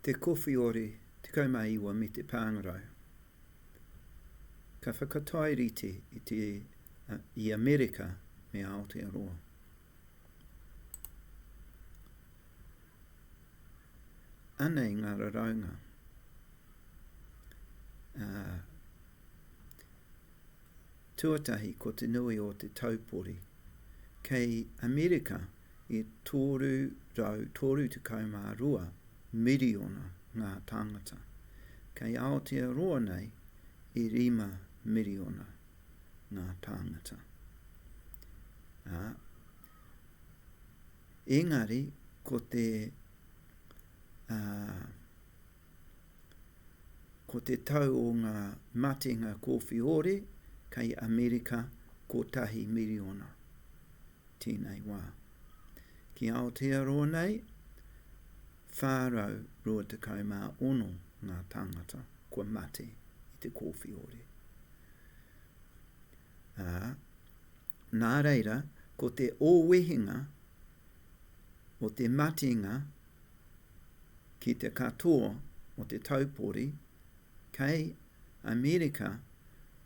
Te Kowhiori 19 me te Pāngarau. Ka whakatae rite i te i Amerika me Aotearoa. Anei ngā raraunga, ā, tuatahi ko te nui o te taupori. Kei Amerika E 332 miriona ngā tāngata kei Aotearoa nei e 5 miriona ngā tāngata, ā, engari ko te, ā, ko te tau o ngā matenga kōwhiore kei Amerika kotahi miriona, tēnei wā. Ki Aotearoa nei, 426 ngā tāngata kua mate i te kōwhiore. Ā, nā reira, ko te ōwehenga o te matenga ki te katoa o te taupori kei Amerika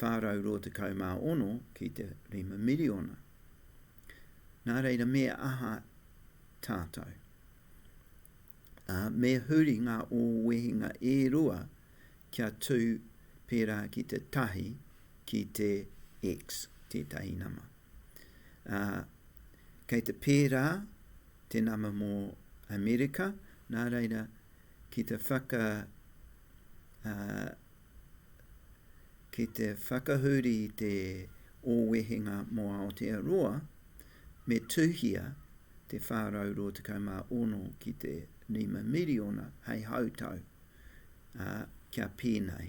426 ki te 5 miriona. Nā reira me aha tātou? Ā, me huri ngā ōwehenga e rua kia tū pērā ki te tahi, ki te X, tētahi nama. Ā, kei te pērā te nama mō Amerika, nā reira ki te whaka, ā, Ki te whakahuri i te O Wehenga mō Aotearoa, me tuhia te 426 ki te 5 miriona hei hautau, ā, kia pēnei,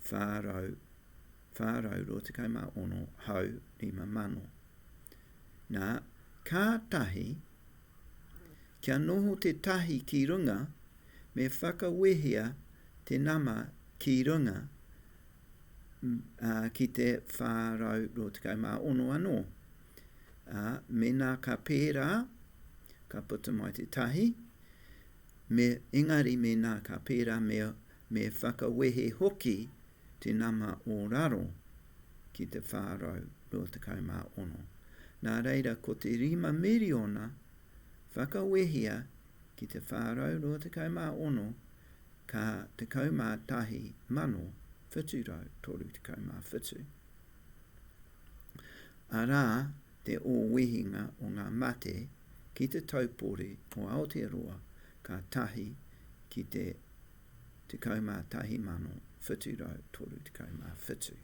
426 hau 5 mano. Nā, kātahi Kia noho te tahi ki runga, me whakawehea te nama ki runga, ā, ki te 426 anō. Ā, mēnā ka pērā, ka puta mai te tahi, me, engari mēnā ka pērā me, me whakawehe hoki te nama o raro ki te 426. Nā reira, ko te rima miriona, Whakawehia ki te 426 ka 11,737. Arā te ōwehinga o ngā mate ki te taupori o Aotearoa ka tahi ki te 11,737.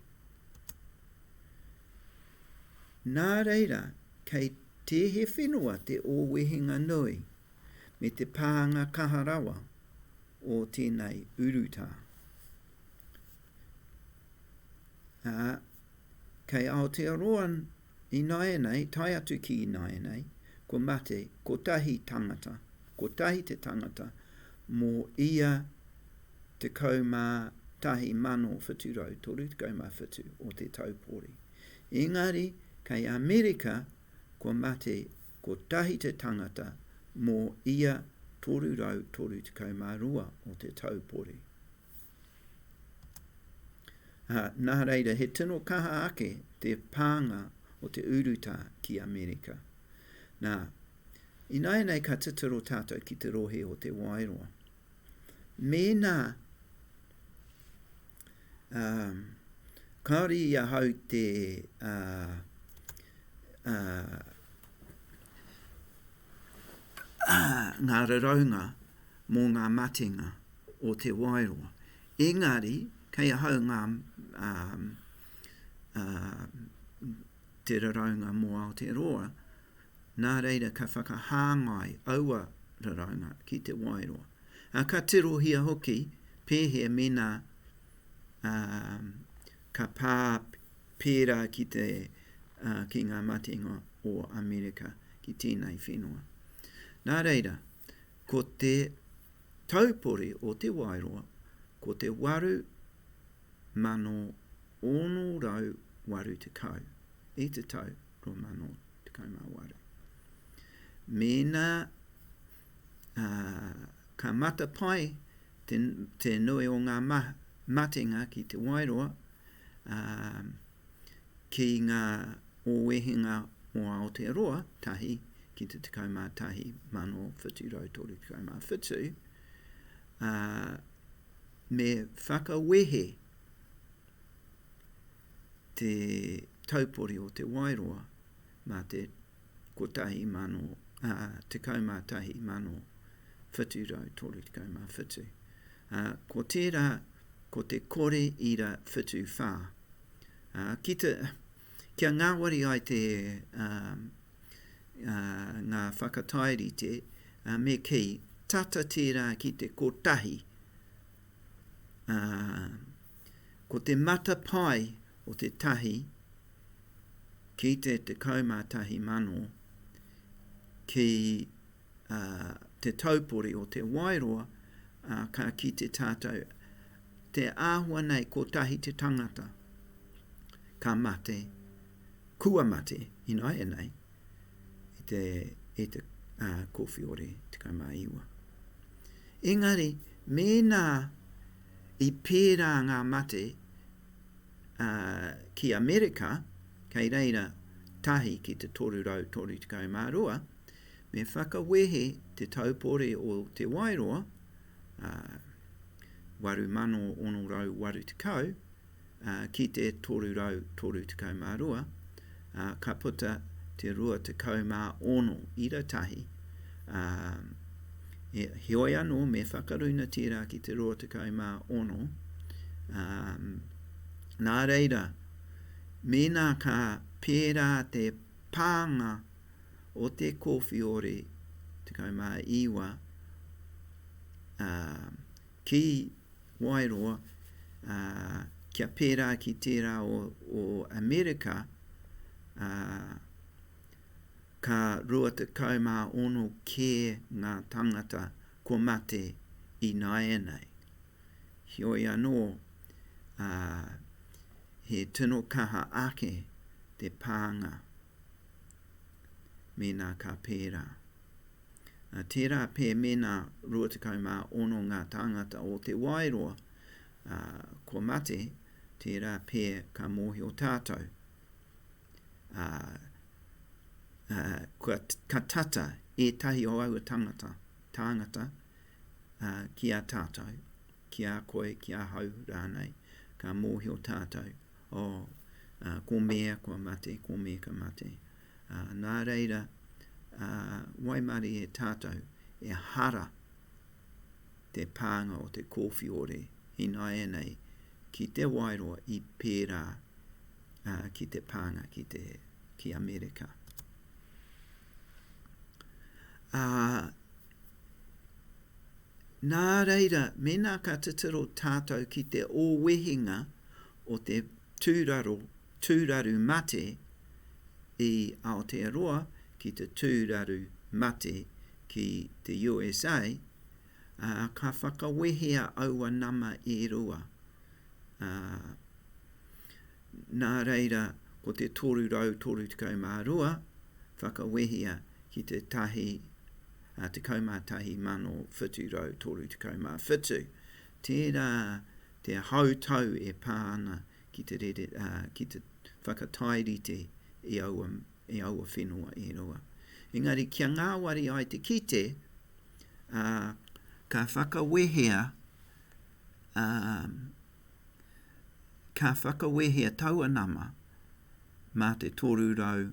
Nā reira, kei. Tē he whenua te ōwehenga nui me te pānga kaha rawa o tēnei urutā, ā, kei Aotearoa ināianei tae atu ki ināianei, kua mate kotahi tangata, kotahi te tangata mō ia 11,737 o te taupori. Engari, kei Amerika, kua mate kotahi te tangata mō ia 332 o te taupori. Ā, nā reira, he tino kaha ake te pānga o te urutā ki Amerika. Nā, ināianei ka titiro tātou ki te rohe o Te Wairoa. Mēnā kāore i ahau te ngā raraunga mō ngā matenga o Te Wairoa, engari kei ahau ngā te raraunga mō Aotearoa, Nā reira ka whakahāngai aua raraunga ki te waeroa, ā, ka tirohia hoki pēhea mēnā ka pā pērā ki te, ki ngā matenga o Amerika ki tēnei whenua. Nā reira, ko te taupori o te waeroa, ko te 8,680 i te tau. 2018. Mēnā ka matapae te nui o ngā matenga ki Te Wairoa ki ngā ōwehenga o Aotearoa, tahi ki te 11,737, me whakawehe te taupori o Te Wairoa mā te 111737. Ā, ko tērā ko te kore ira whitu whā. Ā, ki te, kia ngāwari ai te, ā, ā, ngā whakatairite, ā, me kī, tata tērā ki te kotahi, ā, Ko te matapae o te tahi ki te 11,000 ki a, te taupori o Te Wairoa, a, ka kite tātou te āhua nei kotahi te tangata ka mate, kua mate ināianei i te, i te, a, Kōwhiore 19. Engari mēnā I pērā ngā mate, ā, ki Amerika, kei reira tahi ki te 332, me whakawehe te taupori o Te Wairoa, ā, 8680, ki te 332, ā, ka puta te 26 ira tahi, ā, heoi anō me whakaruna tērā ki te 26, ā, nā reira, mēnā ka pērā te pānga o te kōwhiori 19, ā, Ki Wairoa, ā, kia pērā ki tērā o, o Amerika, ā, ka rua tekau mā ono kē ngā tāngata kua mate ināianei. Heoi anō, ā, he tino kaha ake te pānga mēnā ka pērā. Tērā pē mēnā 26 ngā tāngata o Te Waeroa kua mate, tērā pē ka mōhio tātou, ā, ka tata ētahi o aua tangata, tāngata ki a tātou, ki a koe, ki ahau rānei, ka mōhio tātou. Oh, ah, ko Mea kua mate, ko Mea ka mate. Ah, nā reira, ah, waimarie e tātou, ehara te pānga o te kōwhiore ināianei ki Te Wairoa i pērā, ah, ki te pānga ki te, ki Amerika. Ah, Nā reira, mēnā ka titiro tātou ki te ōwehinga o te tūraro, tūraru mate i Aotearoa ki te tūraru mate ki te USA, ā, ka whakawehea aua nama e rua, ā, nā reira, ko te 332 whakawehea ki te tahi, 11,737. Tērā te hautau e pā ana ki te rere, ki te whakatairite i aua, i aua whenua e rua. Engari kia ngāwari ai te kite, ā, ka whakawehea, ā, ka whakawehea taua nama mā te 300.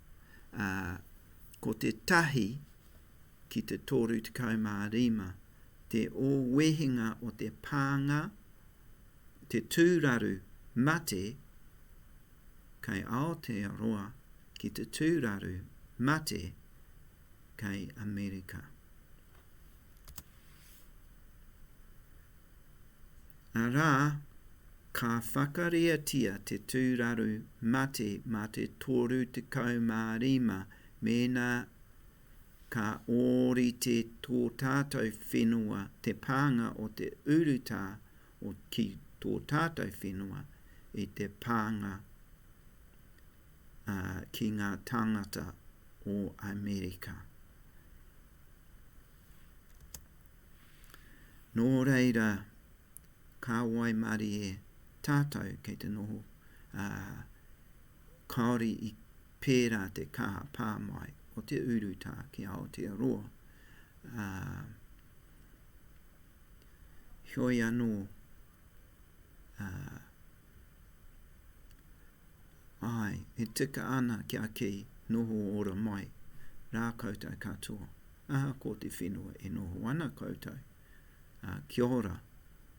ā, ko te tahi ki te 35 te ō wehenga o te pānga, te tūraru mate, kei Aotearoa ki te tūraru mate kei Amerika. Arā, ka whakariatia te tūraru mate mā te 35 mēnā ka ōrite tō tātou whenua te pānga o te urutā o ki tō tātou whenua i te pānga ki ngā tāngata o Amerika. Nō reira, ka waimarie tātou kei te noho, ā, kāore i pērā te kaha pā mai o te urutā ki Aotearoa, ā, heoi anō, ā, Āe, e tika ana kia kī, Noho ora mai rā koutou katoa, ahakoa te whenua e noho ana koutou, ā, kia ora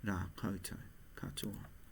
rā koutou katoa.